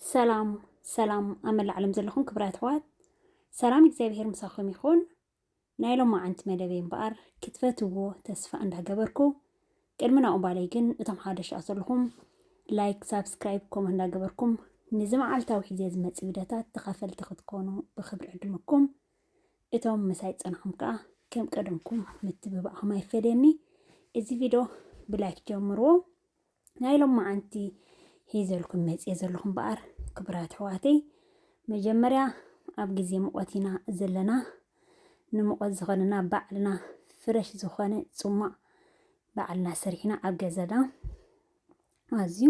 ሰላም ሰላም ኣብ መላእ ዓለም ዘለኹም ክብራት ኣሕዋት ሰላም እግዚኣብሄር ምሳኹም ይኹን። ናይ ሎማዓንቲ መደበይ እምበኣር ክትፈትውዎ ተስፋ እንዳገበርኩ ቅድሚ ናብኡ ባለይ ግን እቶም ሓደሽቲ ኣት ዘለኹም ላይክ ሳብስክራይብ ኮመንት እንዳገበርኩም ንዚ መዓልታዊ ሒዜ ዝመጽእ ቪድዮታት ተኻፈልቲ ክትኮኑ ብክብሪ ዕድመኩም እቶም ምሳይ ጸንሖም ከኣ ከም ቀደምኩም ምትብባዕኹም ኣይፈለየኒ እዚ ቪድዮ ብላይክ ጀምርዎ ናይ ሎማዓንቲ ሒዘልኩም መፅየ ዘለኹ እምበኣር ክብራት ኣሕዋተይ መጀመርያ ኣብ ግዜ ሙቐት ኢና ዘለና ንሙቐት ዝኾነና ባዕልና ፍረሽ ዝኾነ ፅሟቕ ባዕልና ሰሪሕና ኣብ ገዛና ኣዝዩ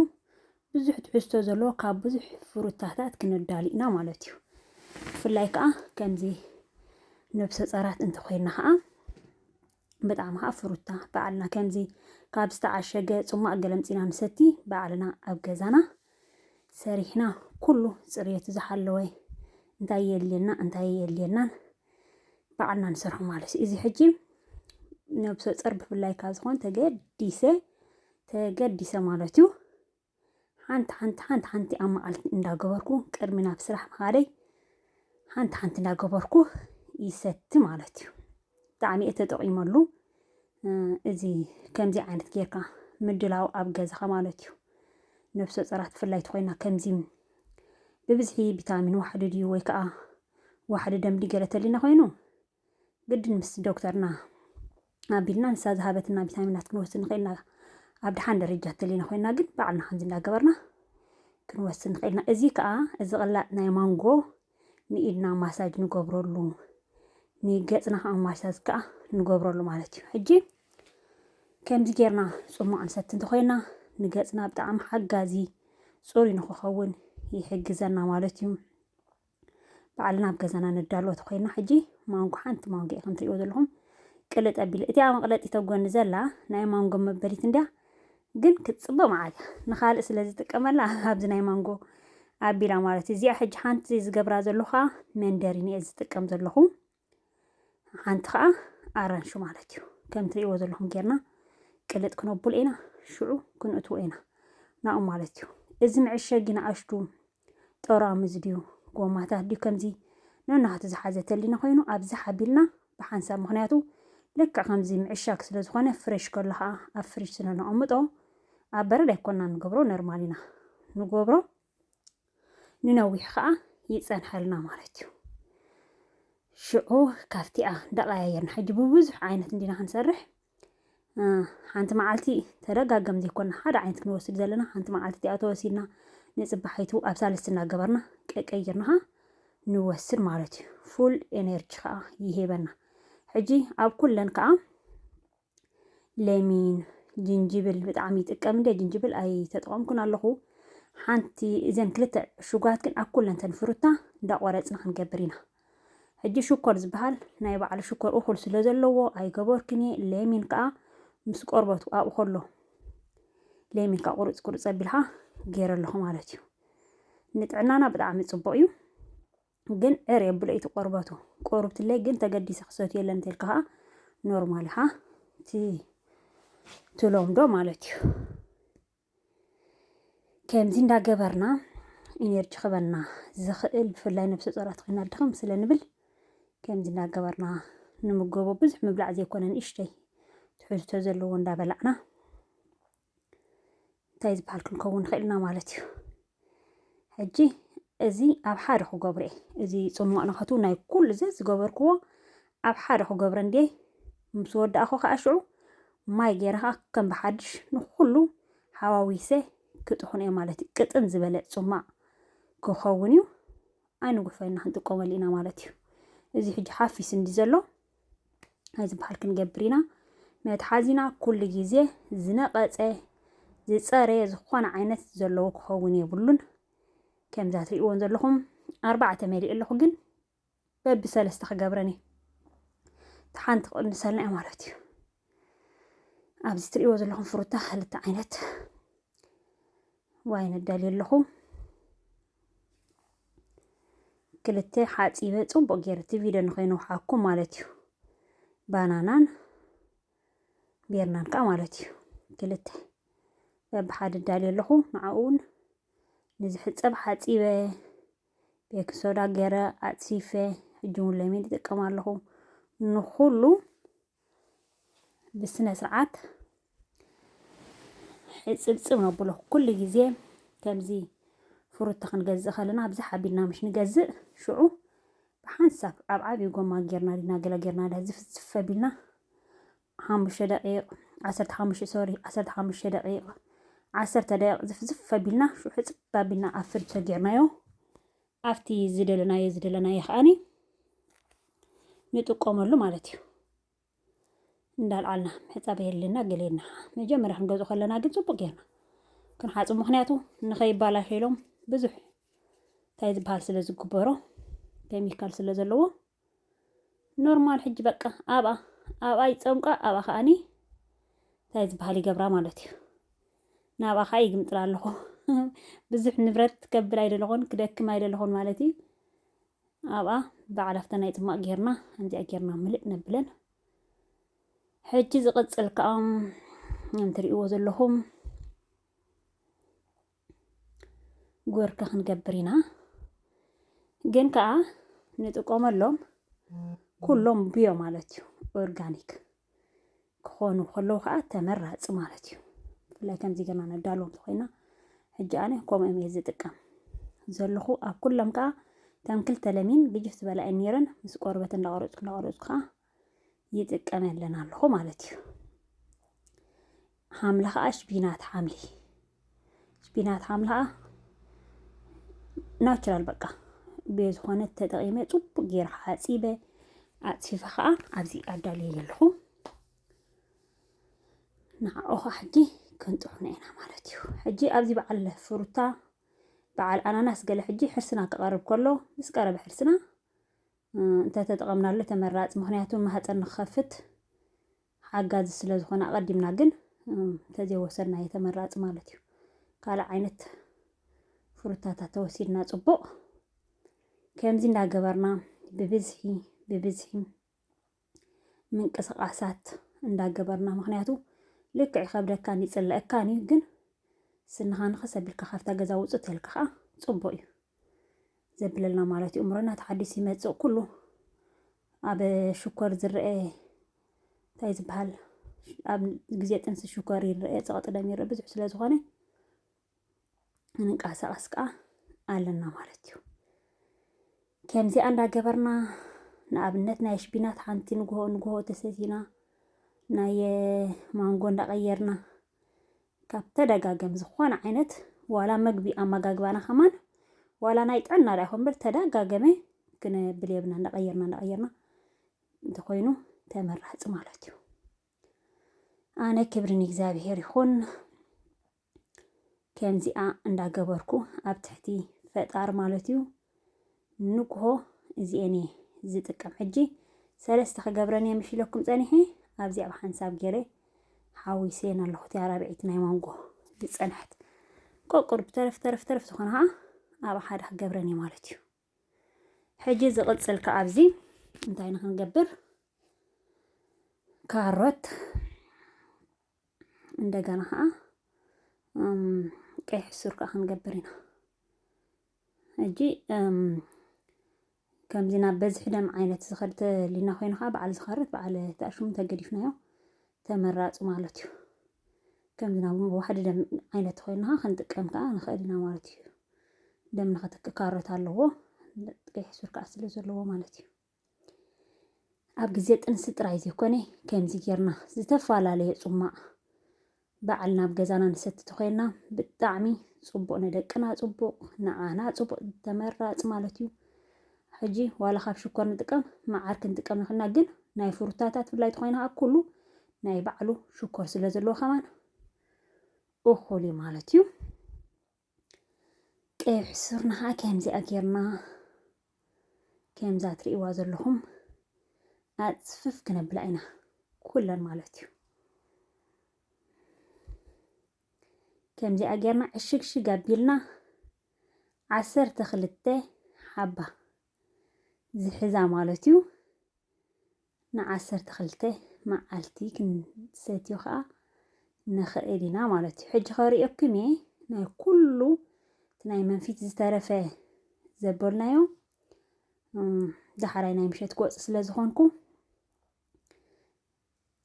ብዙሕ ትሕዝቶ ዘለዎ ካብ ብዙሕ ፍሩታታት ክንዳሉ ኢና ማለት እዩ ብፍላይ ከዓ ከምዚ ነብሰ ፀራት እንተኮይና ከዓ ብጣዕሚ ከኣ ፍሩታ ባዕልና ከምዚ ካብ ዝተዓሸገ ጽሟቕ ገለ ኣምጺና ንሰቲ ባዕልና ኣብ ገዛና ሰሪሕና ኩሉ ጽርየቱ ዝሓለወ እንታይ የድልየና እንታይ የድልየናን ባዕልና ንሰርሖ ማለት እዩ እዚ ሕጂ ነብሰ ጸር ብፍላይ ካብ ዝኾን ተገዲሰ ተገዲሰ ማለት እዩ ሓንቲ ሓንቲ ሓንቲ ሓንቲ ኣብ መዓልቲ እንዳገበርኩ ቅድሚ ናብ ስራሕ ምኻደይ ሓንቲ ሓንቲ እንዳገበርኩ ይሰቲ ማለት እዩ ብጣዕሚ እየ ተጠቒመሉ እዚ ከምዚ ዓይነት ጌርካ ምድላው ኣብ ገዛኻ ማለት እዩ ነብሰ ፀራት ብፍላይ ተኮይና ከምዚ ብብዝሒ ቪታሚን ዋሕዲ ድዩ ወይ ከዓ ዋሕዲ ደምዲ ገለ ተሊና ኮይኑ ግድን ምስ ዶክተርና ኣቢልና ንሳ ዝሃበትና ቪታሚናት ክንወስድ ንኽእል ኢና። ኣብ ድሓን ደረጃ ተለና ኮይና ግን ባዕልና ከምዚ እንዳገበርና ክንወስድ ንኽእል ኢና። እዚ ከዓ እዚ ቅላጥ ናይ ማንጎ ንኢድና ማሳጅ ንገብረሉ ንገፅና ከዓ ማሳጅ ከዓ ንገብረሉ ማለት እዩ። ሕጂ ከምዚ ጌርና ፅሟቕ ንሰቲ እንተኮይና ንገፅና ብጣዕሚ ሓጋዚ ፅሩይ ንክኸውን ይሕግዘና ማለት እዩ። ባዕልና ኣብ ገዛና ነዳልዎ ተኾይና ሕጂ ማንጎ ሓንቲ ማንጎ እዩ ከምትሪእዎ ዘለኹም ቅልጥ ኣቢለ እቲኣ መቕለጢት ኣብ ጎኒ ዘላ ናይ ማንጎ መበሊት እንድያ ግን ክትፅብቕ መዓት እያ ንኻልእ ስለ ዝጥቀመላ ኣብዚ ናይ ማንጎ ኣቢላ ማለት እዩ እዚኣ ሕጂ ሓንቲ ዝገብራ ዘለኹ ከዓ መንደሪን እየ ዝጥቀም ዘለኹ ሓንቲ ከዓ ኣራንሹ ማለት እዩ ከም ትሪእዎ ዘለኹም ጌርና ቅልጥ ክነቡል ኢና ሽዑ ክንእትዎ ኢና ናኡ ማለት እዩ እዚ መዕሸጊ ንኣሽቱ ጠራሙዝ ድዩ ጎማታት ድዩ ከምዚ ነናቱ ዝሓዘ ተሊና ኮይኑ ኣብዚ ሓቢልና ብሓንሳብ ምክንያቱ ልክዕ ከምዚ ምዕሻግ ስለ ዝኾነ ፍሬሽ ከሎ ከዓ ኣብ ፍሪጅ ስለ ነቐምጦ ኣብ በረድ ኣይኮና ንገብሮ ነርማል ኢና ንገብሮ ንነዊሕ ከዓ ይፀንሐልና ማለት እዩ ሽዑ ካብቲኣ እንዳቀያየርና ሕጂ ብብዙሕ ዓይነት እንዲና ክንሰርሕ ሓንቲ መዓልቲ ተደጋገም ዘይኮና ሓደ ዓይነት ክንወስድ ዘለና ሓንቲ መዓልቲ እቲኣ ተወሲድና ንፅባሒቱ ኣብ ሳልስቲ እናገበርና ቀቀይርና ከዓ ንወስድ ማለት እዩ ፉል ኤነርጂ ከዓ ይሄበና ሕጂ ኣብ ኩለን ከዓ ለሚን ጅንጅብል ብጣዕሚ ይጥቀም እንደ ጅንጅብል ኣይተጠቐምኩን ኣለኹ ሓንቲ እዘን ክልተ ዕሹጋት ግን ኣብ ኩለን ተን ፍሩታ እንዳቆረፅና ክንገብር ኢና ሕጂ ሽኮር ዝበሃል ናይ ባዕሉ ሽኮር እኹል ስለ ዘለዎ ኣይገበርክን እየ ለሚን ከዓ ምስ ቆርበቱ ኣብኡ ከሎ ለሚን ከዓ ቁርፅ ቁርፅ ኣቢልካ ገይረ ኣለኹ ማለት እዩ ንጥዕናና ብጣዕሚ ፅቡቅ እዩ ግን ዕር የብሎ ኢቲ ቆርበቱ ቆርብትለይ ግን ተገዲሰ ክሰትዮ የለን እንተልካ ከዓ ኖርማል ሃ ትሎምዶ ማለት እዩ ከምዚ እንዳገበርና ኢነርጂ ክበና ዝኽእል ብፍላይ ነብሰ ፆራት ኮይና ድኽም ስለ ንብል ከምዚ እንዳገበርና ንምገቦ ብዙሕ ምብላዕ ዘይኮነ ንእሽተይ ትሕዝቶ ዘለዎ እንዳበላዕና እንታይ ዝበሃል ክንከውን ንኽእል ኢና ማለት እዩ ሕጂ እዚ ኣብ ሓደ ክገብሮ እየ እዚ ፅሟቕ ንኸቱ ናይ ኩሉ ዘ ዝገበርክዎ ኣብ ሓደ ክገብረ እንድየ ምስ ወዳእኹ ከዓ ሽዑ ማይ ገይረ ከዓ ከም ብሓድሽ ንኩሉ ሓዋዊሰ ክጥሕኑ እየ ማለት እዩ ቅጥን ዝበለ ፅሟቕ ክኸውን እዩ ኣይንጉፈና ክንጥቀመሉ ኢና ማለት እዩ እዚ ሕጂ ሓፊስ እንዲ ዘሎ ነዚ በሃል ክንገብር ኢና መትሓዚና ኩሉ ግዜ ዝነቐጸ ዝጸረየ ዝኾነ ዓይነት ዘለዎ ክኸውን የብሉን ከምዛ ትርእይዎን ዘለኹም ኣርባዕተ መሊእ ኣለኹ ግን በቢ ሰለስተ ክገብረን እዩ ተሓንቲ ክቕንሰልና እዩ ማለት እዩ ኣብዚ ትሪእዎ ዘለኹም ፍሩታ ክልተ ዓይነት ዋይን እዳልዩ ኣለኹ ክልተ ሓፂበ ፅቡቅ ገይረ እቲ ቪድዮ ንኸይኑ ሓኩም ማለት እዩ ባናናን ቤርናን ከዓ ማለት እዩ ክልተ በብሓደ እዳልዩ ኣለኹ ንዓኡውን ንዝሕፀብ ሓፂበ ቤኪ ሶዳ ገይረ ኣፅፊፈ ሕጂ እውን ለሚን ይጥቀም ኣለኹ ንኩሉ ብስነ ስርዓት ሕፅብፅብ ነብሎ ኩሉ ግዜ ከምዚ ፍሩታ ክንገዝእ ከለና ብዛሕ ኣቢልና ምሽ ንገዝእ ሽዑ ብሓንሳብ ኣብ ዓብዪ ጎማ ጌርና ዲና ገለ ጌርና ዳ ዝፍዝፍ ኣቢልና ሓሙሽተ ደቂቕ ዓሰርተ ሓሙሽተ ሶሪ ዓሰርተ ሓሙሽተ ደቂቕ ዓሰርተ ደቂቕ ዝፍዝፍ ኣቢልና ሽዑ ሕፅብ ኣቢልና ኣብ ፍርጅ ተጌርናዮ ኣብቲ ዝደለናዮ ዝደለናዮ ከዓኒ ንጥቀመሉ ማለት እዩ እንዳልዓልና ምሕፃብ የድልና ገሌና መጀመርያ ክንገዝኦ ከለና ግን ፅቡቅ ጌርና ክንሓፁ ምክንያቱ ንከይባላሸሎም ብዙሕ እንታይ ዝበሃል ስለ ዝግበሮ ኬሚካል ስለ ዘለዎ ኖርማል ሕጂ በቃ ኣብኣ ኣብኣ ይፀምቋ ኣብኣ ከዓኒ እንታይ ዝበሃል ይገብራ ማለት እዩ ናብኣ ከዓ ይግምጥላ ኣለኹ ብዙሕ ንብረት ከብል ኣይደለኹን ክደክም ኣይደለኹን ማለት እዩ ኣብኣ በዓል ኣብታ ናይ ፅማቅ ጌርና ከምዚኣ ጌርና ምልእ ነብለን ሕጂ ዝቕፅል ከዓ እንትርእይዎ ዘለኹም ጎርኪ ክንገብር ኢና ግን ከዓ ንጥቀመሎም ኩሎም ብዮ ማለት እዩ ኦርጋኒክ ክኾኑ ከለዉ ከዓ ተመራፂ ማለት እዩ ብፍላይ ከምዚ ገና ነዳሎም እንተኮይና ሕጂ ኣነ ከምኦም እየ ዝጥቀም ዘለኹ ኣብ ኩሎም ከዓ ከም ክልተ ለሚን ግጅፍ ዝበላ እየን ነይረን ምስ ቆርበት እንዳቆረፅኩ እንዳቆረፅኩ ከዓ ይጥቀመለን ኣለኹ ማለት እዩ ሓምሊ ከዓ ሽቢናት ሓምሊ ሽቢናት ሓምሊ ከዓ ናቹራል በቃ ብዝኾነ ተጠቂመ ፅቡቅ ጌራ ሓፂበ ኣፅፊፈ ከዓ ኣብዚ ኣዳልየ ኣለኹ ንዓኦ ከዓ ሕጂ ክንጥዑና ኢና ማለት እዩ ሕጂ ኣብዚ በዓል ፍሩታ በዓል ኣናናስ ገለ ሕጂ ሕርስና ክቐርብ ከሎ ምስ ቀረበ ሕርስና እንተተጠቐምናሉ ተመራፂ ምኽንያቱ ማህፀን ንክኸፍት ሓጋዚ ስለ ዝኾነ ኣቐዲምና ግን እንተዘይወሰድናዮ ተመራፂ ማለት እዩ። ካልእ ዓይነት ፍሩታታት ተወሲድና ፅቡቕ ከምዚ እንዳገበርና ብብዝሒ ብብዝሒ ምንቅስቃሳት እንዳገበርና ምክንያቱ ልክዕ ይከብደካን ይፅለእካን እዩ ግን ስንኻ ንኸስ ኣቢልካ ካብታ ገዛ ውፅእ ተልካ ከዓ ፅቡቅ እዩ ዘብለልና ማለት እዩ እምሮና ተሓዲሱ ይመፅእ ኩሉ ኣብ ሽኮር ዝረአ እንታይ ዝበሃል ኣብ ግዜ ጥንሲ ሽኮር ይረአ ፀቕጢ ደም ይረአ ብዙሕ ስለ ዝኾነ ንንቀሳቐስ ከዓ ኣለና ማለት እዩ። ከምዚኣ እንዳገበርና ንኣብነት ናይ ሽቢናት ሓንቲ ንግሆ ንግሆ ተሰቲና ናይ ማንጎ እንዳቐየርና ካብ ተደጋገም ዝኾነ ዓይነት ዋላ መግቢ ኣመጋግባና ከማን ዋላ ናይ ጥዕና ዳ ይኹን እምበር ተደጋገመ ክነብል የብና እንዳቐየርና እንዳቐየርና እንተኾይኑ ተመራፂ ማለት እዩ። ኣነ ክብሪ ንእግዚኣብሔር ይኹን። ከምዚኣ እንዳገበርኩ ኣብ ትሕቲ ፈጣር ማለት እዩ ንጉሆ እዚኤን እየ ዝጥቀም ሕጂ ሰለስተ ክገብረን እየ ምሽ ኢለኩም ጸኒሐ ኣብዚ ኣብ ሓንሳብ ገይረ ሓዊሰን ኣለኹ እቲኣ ራብዒት ናይ ማንጎ ዝጸንሐት ቆቁር ብተረፍ ተረፍ ተረፍ ዝኾነ ከዓ ኣብ ሓደ ክገብረን እየ ማለት እዩ ሕጂ ዝቕጽል ከዓ ኣብዚ እንታይ ንክንገብር ካሮት እንደገና ከዓ ቀይሕ ሱር ከዓ ክንገብር ኢና ሕጂ ከምዚ ናብ በዝሒ ደም ዓይነት ዝኸድ ተሊና ኮይኑ ከዓ በዓል ዝኸርት በዓል ተኣሽሙ ተገዲፍናዮ ተመራፂ ማለት እዩ ከምዚ ናብ ዋሕዲ ደም ዓይነት ኮይና ክንጥቀም ከዓ ንኽእል ኢና ማለት እዩ ደም ንኸተክካረት ኣለዎ ቀይሕ ሱር ከዓ ስለ ዘለዎ ማለት እዩ ኣብ ግዜ ጥንሲ ጥራይ ዘይኮነ ከምዚ ጌርና ዝተፈላለየ ጹማቕ በዓል ናብ ገዛና ንሰቲ ተኮይና ብጣዕሚ ጽቡቕ ንደቅና ጽቡቕ ንዓና ጽቡቕ ተመራጽ ማለት እዩ። ሕጂ ዋላ ካብ ሽኮር ንጥቀም መዓር ክንጥቀም ንኽእልና ግን ናይ ፍሩታታት ብፍላይ ተኾይና ከዓ ኩሉ ናይ ባዕሉ ሽኮር ስለ ዘለዎ ከማን እኹል እዩ ማለት እዩ ቀይሕ ሱርና ከዓ ከምዚኣ ጌርና ከምዛ ትርእይዋ ዘለኹም ኣፅፍፍ ክነብላ ኢና ኩለን ማለት እዩ ከምዚኣ ጌርና ዕሽግሽግ ኣቢልና ዓሰርተ ክልተ ሓባ ዝሕዛ ማለት እዩ ንዓሰርተ ክልተ መዓልቲ ክንሰትዮ ከኣ ንኽእል ኢና ማለት እዩ። ሕጂ ከርእየኩም እየ ናይ ኩሉ እቲ ናይ መንፊት ዝተረፈ ዘበልናዮ ዳሕራይ ናይ ምሸት ክወፅ ስለ ዝኾንኩ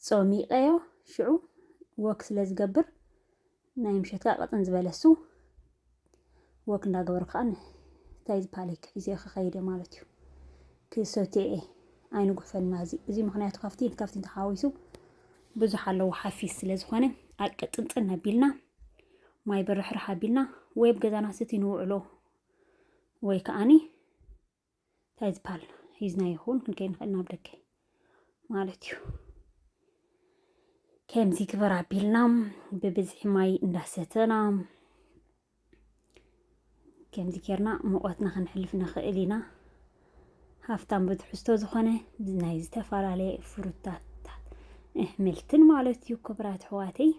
ጾሚቀዮ ሽዑ ወክ ስለ ዝገብር ናይ ምሸት ከኣ ቅጥን ዝበለ እሱ ወክ እንዳገበሩ ከኣ እንታይ ዝፓሊክ ሒዘዮ ክኸይድ እየ ማለት እዩ ክሰትዮ እየ ኣይንጉሕፈልና እዚ እዚ ምክንያቱ ካብቲን ካብቲን ተሓዋዊሱ ብዙሕ ኣለዎ ሓፊስ ስለ ዝኾነ ኣቅጥንጥን ኣቢልና ማይ ብርሕርሕ ኣቢልና ወይ ኣብ ገዛና ስቲ ንውዕሎ ወይ ከዓኒ እንታይ ዝበሃል ሂዝናዮ ክውን ክንከይድ ንኽእል ናብ ደገ ማለት እዩ ከምዚ ግበር ኣቢልና ብብዝሒ ማይ እንዳሰተና ከምዚ ጌርና ሙቐትና ክንሕልፍ ንኽእል ኢና ሃፍታም ብትሕዝቶ ዝኾነ ናይ ዝተፈላለየ ፍሩታታት እሕምልትን ማለት እዩ ክብራት ኣሕዋተይ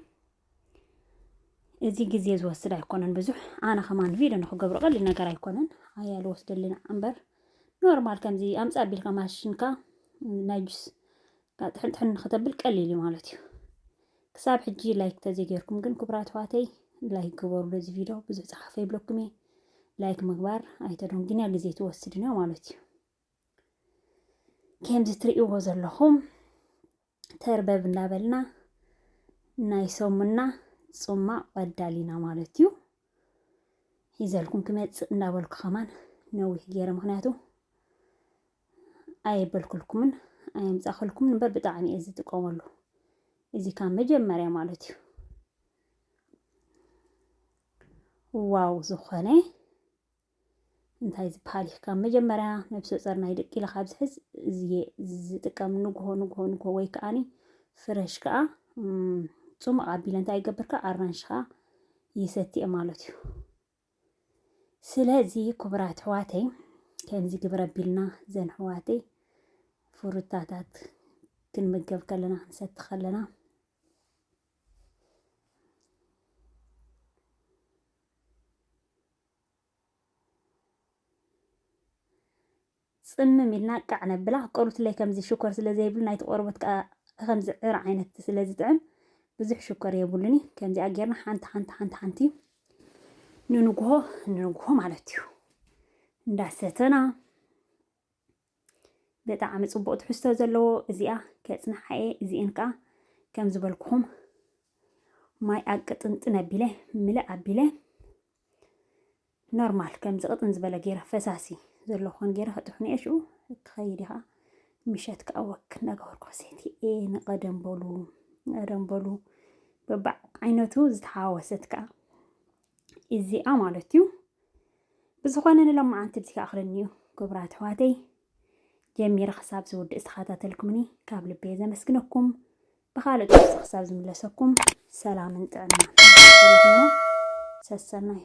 እዚ ግዜ ዝወስድ ኣይኮነን ብዙሕ ኣነ ከማን ቪድዮ ንክገብሮ ቀሊል ነገር ኣይኮነን ኣያ ዝወስደልና እምበር ኖርማል ከምዚ ኣምፃ ቢልካ ማሽንካ ናይ ጁስ ጥሕን ጥሕን ንክተብል ቀሊል እዩ ማለት እዩ ክሳብ ሕጂ ላይክ ተዘይገርኩም ግን ክቡራት ኣሕዋተይ ላይክ ግበሩ ነዚ ቪድዮ ብዙሕ ፀሓፈ ይብለኩም እየ ላይክ ምግባር ኣይተደም ግንያ ግዜ ትወስድን እዮ ማለት እዩ ከምዚ ትርእይዎ ዘለኹም ተርበብ እንዳበልና ናይ ሰሙና ጹማቕ ቀዳሊና ማለት እዩ ሒዘልኩም ክመጽእ እንዳበልኩ ከማን ነዊሕ ገይረ ምክንያቱ ኣየበልኩልኩምን ኣየምጻኸልኩምን እምበር ብጣዕሚ እየ ዝጥቀመሉ እዚ ካብ መጀመርያ ማለት እዩ ዋው ዝኾነ እንታይ ዝበሃል እዩ ካብ መጀመርያ ነብሰ ፀር ናይ ደቂ ኢለ ካብ ዝሕዝ እዝየ ዝጥቀም ንግሆ ንግሆ ንግሆ ወይ ከዓኒ ፍረሽ ከዓ ፅሙቕ ኣቢለ እንታይ ይገብር ከዓ ኣራንሽ ከዓ ይሰትየ ማለት እዩ ስለዚ ክቡራት ሕዋተይ ከምዚ ግብረ ኣቢልና ዘን ሕዋተይ ፍሩታታት ክንምገብ ከለና ክንሰቲ ከለና ጽምም ኢልና ቃዕ ነብላ። ቆርቡትለይ ከምዚ ሽኮር ስለ ዘይብሉ ናይቲ ቆርቦት ከኣ ከከምዚ ዕረ ዓይነት ስለ ዝጥዕም ብዙሕ ሽኮር የብሉን እዩ። ከምዚኣ ጌርና ሓንቲ ሓንቲ ሓንቲ ሓንቲ ንንግሆ ንንግሆ ማለት እዩ እንዳሰተና ብጣዕሚ ጽቡቅ ትሕዝቶ ዘለዎ እዚኣ ከጽንሓ እየ እዚኤን ከኣ ከም ዝበልኩኹም ማይ ኣቅጥንጥን ኣቢለ ምልእ ኣቢለ ኖርማል ከምዚ ቅጥን ዝበለ ገይረ ፈሳሲ ዘሎ ክኾን ገይረ ክጥሕኑ እየ ሽኡ ክኸይድ እየ ከዓ ምሸት ከዓ ወክ እናገበርኩ ክሰቲ እየ ንቀደም በሉ ንቀደም በሉ በባዕ ዓይነቱ ዝተሓዋወሰት ከዓ እዚኣ ማለት እዩ ብዝኾነ ንሎማዓንቲ ብዚ ክኣኽለኒ እዩ ክቡራት ኣሕዋተይ ጀሚረ ክሳብ ዝውድእ ዝተኸታተልኩምኒ ካብ ልበየ ዘመስግነኩም ብካልእ ጥቅሲ ክሳብ ዝምለሰኩም ሰላምን ጥዕና ሰሰናዩ